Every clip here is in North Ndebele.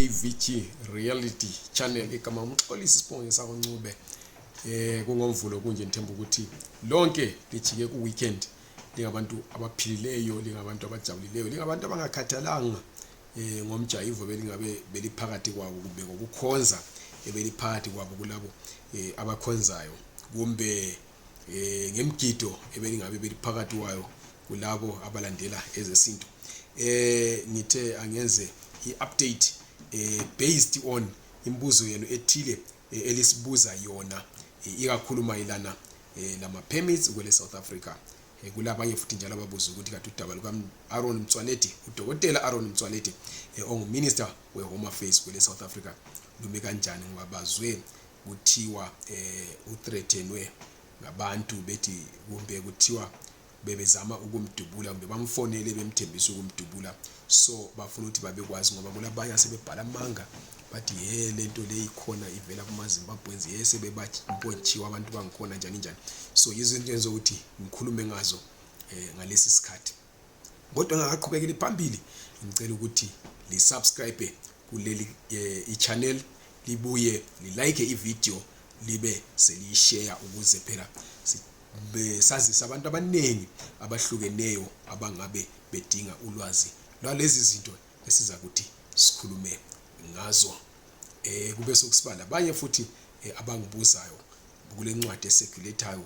AVG Reality Channel igama umxolisi isibonge sako Ncube eh kungomvulo kunje ngithemba ukuthi lonke lijike ku weekend lingabantu abaphilileyo lingabantu abajabulileyo lingabantu abangakhathalanga eh ngomjayivo belingabe beliphakathi kwabo kumbe ngokukhonza ebeliphakathi kwabo kulabo eh abakhonzayo kumbe eh, ngemgido ebelingabe beliphakathi wayo kulabo abalandela ezesintu eh ngithe angenze i-update eh, based on imibuzo yenu ethile eh, elisibuza yona eh, ikakhulu mayelana eh, lama-permits kwele south africa Eh, kulabanye futhi njalo ababuza ukuthi kade udaba luka-aron mtswaledi udokotela aron mtswaledi um eh, onguminister we-home affairs kwele-south africa lumi kanjani ngoba bazwe kuthiwa um uthreathenwe ngabantu bethi kumbe kuthiwa bebezama ukumdubula kumbe bamfonele bemthembisa ukumdubula so bafuna ukuthi babekwazi ngoba kulabanye asebebhala amanga bathi ye le nto leyi khona ivela kumazimbabweans ye sebebabontshiwe abantu bangikhona njani njani so yizinto enzokuthi ngikhulume ngazo um ngalesi sikhathi kodwa ngakaqhubekeli phambili ngicela ukuthi li subscribe kuleli eh, i channel libuye li like i video libe seliyishare ukuze phela sazisa abantu abaningi abahlukeneyo abangabe bedinga ulwazi lwalezi zinto esiza kuthi sikhulume ngazo eh kube sokusiba labanye futhi eh, abangibuzayo kule ncwadi esekulethayo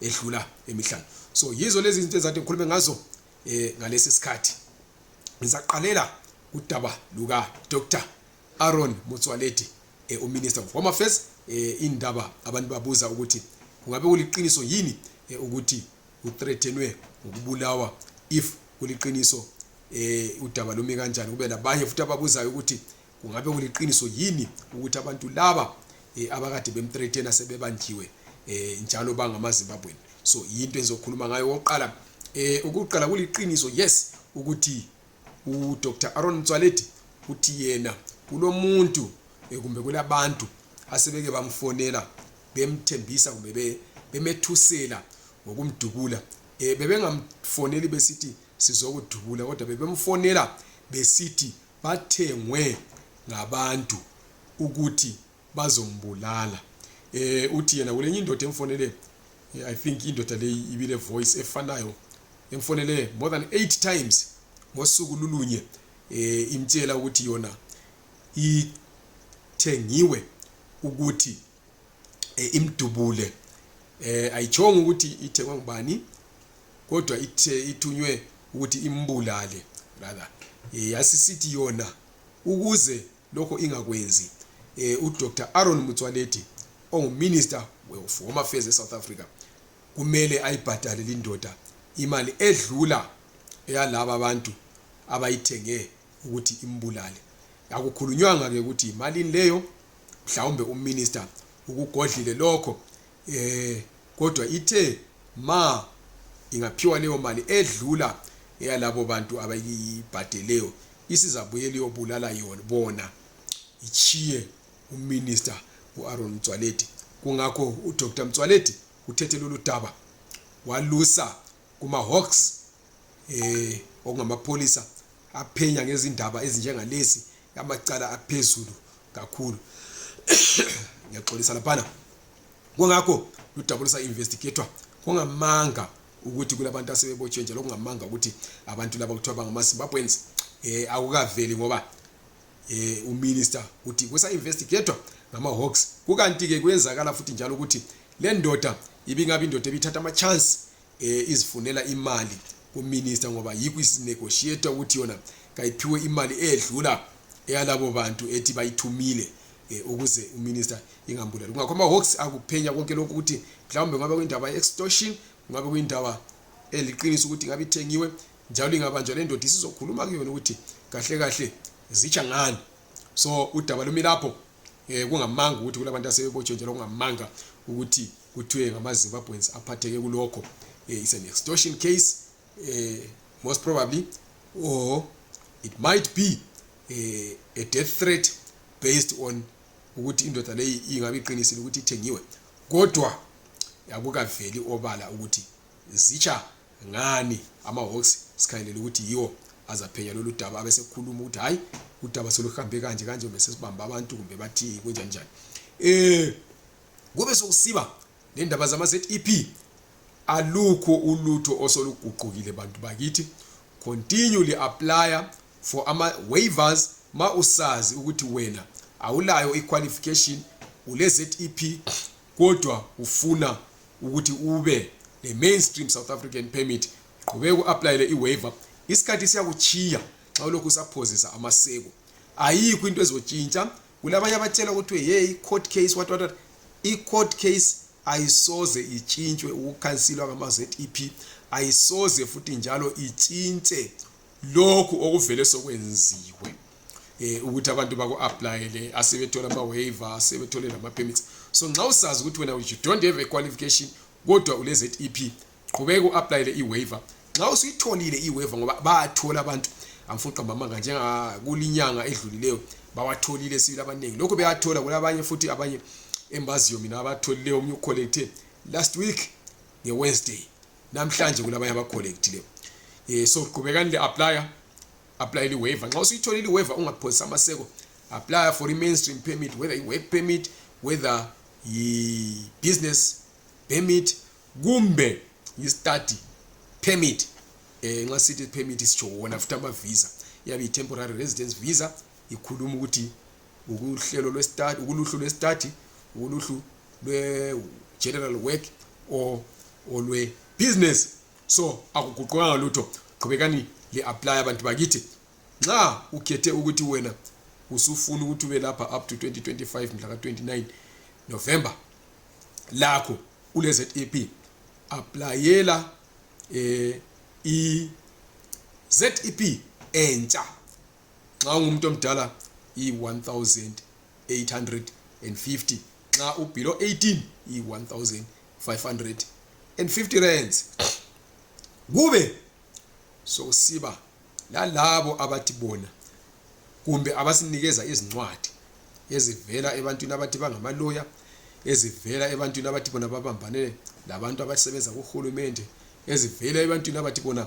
edlula emihlanu so yizo lezi zinto ezathi ngikhulume ngazo eh ngalesi sikhathi ngizaqalela udaba luka Dr Aaron Motswaledi eh, uminister of home affairs eh, indaba abantu babuza ukuthi kungabe kuliqiniso yini eh, ukuthi uthreatenwe ngokubulawa if kuliqiniso eh udaba lumi kanjani kube labanye futhi ababuzayo ukuthi kungabe kuliqiniso yini ukuthi abantu laba eh, abakade bemthreatena sebebanjiwe eh, njalo bangamazimbabweni so yinto engizokhuluma ngayo okokuqala um eh, ukuqala kuliqiniso yes ukuthi udr aron mtswaledi uthi yena kulomuntu eh, kumbe kulabantu asebeke bamfonela bemthembisa kumbe bemethusela ngokumdubula um bebengamfoneli besithi sizokudubula kodwa bebemfonela besithi bathengwe ngabantu ukuthi bazombulala eh uthi yena kulenye indoda emfonele eh, i think indoda leyi ibile voice efanayo emfonele more than 8 times ngosuku lulunye eh imtshela ukuthi yona ithengiwe ukuthi e, imdubule eh ayitshonga ukuthi ithengwa ngubani kodwa ithe ithunywe ukuthi imbulale rather eh, yasisithi yona ukuze lokho ingakwenzi eh uDr Aaron Mtswaledi onguminister of Home Affairs eSouth Africa kumele ayibhadale lindoda imali edlula eyalabo abantu abayithenge ukuthi imbulale akukhulunywanga ke ukuthi imalini leyo mhlawumbe uminister ukugodlile lokho eh kodwa ithe ma ingaphiwa leyo mali edlula eyalabo bantu abayibhadeleyo isizabuyela iyobulala yona bona ichiye uminister uAron Mtswaledi kungakho uDr Mtswaledi uthethe lolu daba walusa kumahawks eh okungamapholisa aphenya ngezindaba ezinjengalezi amacala aphezulu kakhulu ngiyaxolisa laphana kungakho ludabulisa investigator kungamanga ukuthi kulabantu asebebotshwe njalo kungamanga ukuthi abantu laba kuthiwa bangamazimbabweans um akukaveli ngoba um uminister uthi kusa-investigator ngama-hawks kukanti-ke kuyenzakala futhi njalo ukuthi le ndoda ibingabe indoda ebithatha ama-chance um eh, izifunela imali kuminista ngoba yikho isinegotiator ukuthi yona kayiphiwe imali edlula eyalabo bantu ethi bayithumile eh, ukuze uminista ingambulali kungakho ama-hawks akuphenya konke lokhu ukuthi mhlawumbe kungabe kuyindaba ye-extortion kungabe kuyindaba eliqinisa ukuthi ingabe ithengiwe njalo ingabanjwa le ndoda isizokhuluma kuyona ukuthi kahle kahle zitsha ngani so udaba lumi lapho Eh kungamanga ukuthi kulabantu asebebotshwe njalo kungamanga ukuthi kuthiwe ngamaZimbabweans aphatheke kulokho. Eh it's an extortion case eh most probably or it might be eh, a death threat based on ukuthi indoda leyi ingabe iqinisile ukuthi ithengiwe kodwa akukaveli obala ukuthi zitsha Ngani amaHawks sikhangelele ukuthi yiwo azaphenya lolu daba abesekhuluma ukuthi hayi udaba soluhambe kanje kanje kumbe sesibamba abantu kumbe bathi kunjani njani eh kube sokusiba nendaba zama ZEP alukho ulutho osoluguqukile bantu bakithi continually apply for ama waivers ma usazi ukuthi wena awulayo iqualification ule ZEP kodwa ufuna ukuthi ube le mainstream south african permit qhubeka uaplayele iwaiver isikhathi siyakuchiya xa ulokhu usaphozisa amaseko ayikho into ezotshintsha kulabanye abatshela ukuthi hey court case what what i court case ayisoze itshintshwe ukukhansilwa ngama ZEP ayisoze futhi njalo itshintshe lokhu okuvele sokwenziwe eh ukuthi abantu baku applyele asebethola ama waiver asebethole lama permits so nxa usazi ukuthi wena you don't have a qualification kodwa ule ZEP qhubeka uapplyele i waiver nxa usuyitholile i waiver ngoba bayathola abantu angifuni qamba amanga njenga kulinyanga edlulileyo bawatholile sibili abaningi lokho beyathola kulabanye futhi abanye embaziyo mina abatholileyo omnye ucollecte last week nge Wednesday namhlanje kulabanye abacollectileyo um so qhubekani li-aplya aplayela i-waiver nxa usuyithola ili-waiver ungaphosisa amaseko aplya for i-mainstream permit whether i-work permit whether yi-business permit kumbe yi-study permit um nxa sithi permit sitsho wona futhi ama-visa iyabe yi-temporary residence visa ikhuluma ukuthi ukuhlelo lwesitati ukuluhlu lwesitati ukuluhlu lwe-general work or olwe-business so akuguqukanga lutho qhubekani li-aplye abantu bakithi nxa ukhethe ukuthi wena usufuna ukuthi ube lapha up to 2025 mhla ka-29 november lakho kule-zep aplayela um eh, i-zep entsha nxa ungumuntu omdala yi-1850 nxa ubelow 18 yi-1550 rands kube sokusiba lalabo abathi bona kumbe abasinikeza izincwadi ezivela ebantwini abathi bangamaloya ezivela ebantwini abathi bona babambane labantu abasebenza kuhulumende ezivela ebantwini abathi bona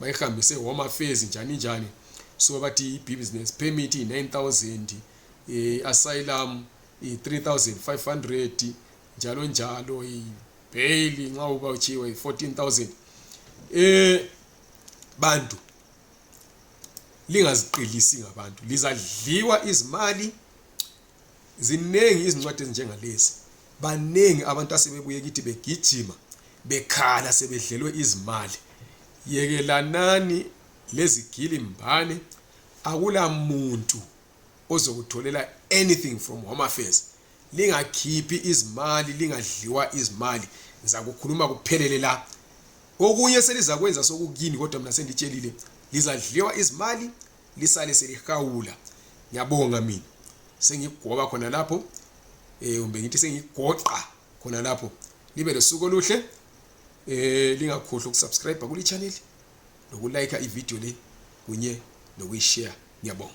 bayihambise home affairs njani njani so bathi i-business permit iyi-9000 i-asylum i-3500 njalo njalo ibheyili nxa uba utshiwe i-14000 eh bantu lingaziqilisi ngabantu lizadliwa izimali Zinengi izincwadi ezinjengalezi. Banengi abantu asebebuye kithi begijima, bekhala sebedlelwe izimali. Yekelanani lezigili mbane. Akula muntu ozokutholela anything from Home Affairs. Lingakhiphi izimali, lingadliwa izimali. Ngizakukhuluma kuphelele la. Okunye selizakwenza sokukini kodwa mina senditshelile lizadliwa izimali lisale selihawula ngiyabonga mina sengigoba khona lapho eh kumbe ngithi sengigoqa khona lapho libe losuku oluhle eh lingakhohlwa ukusubscribe kule channel nokulike ivideo le kunye nokuyishare ngiyabonga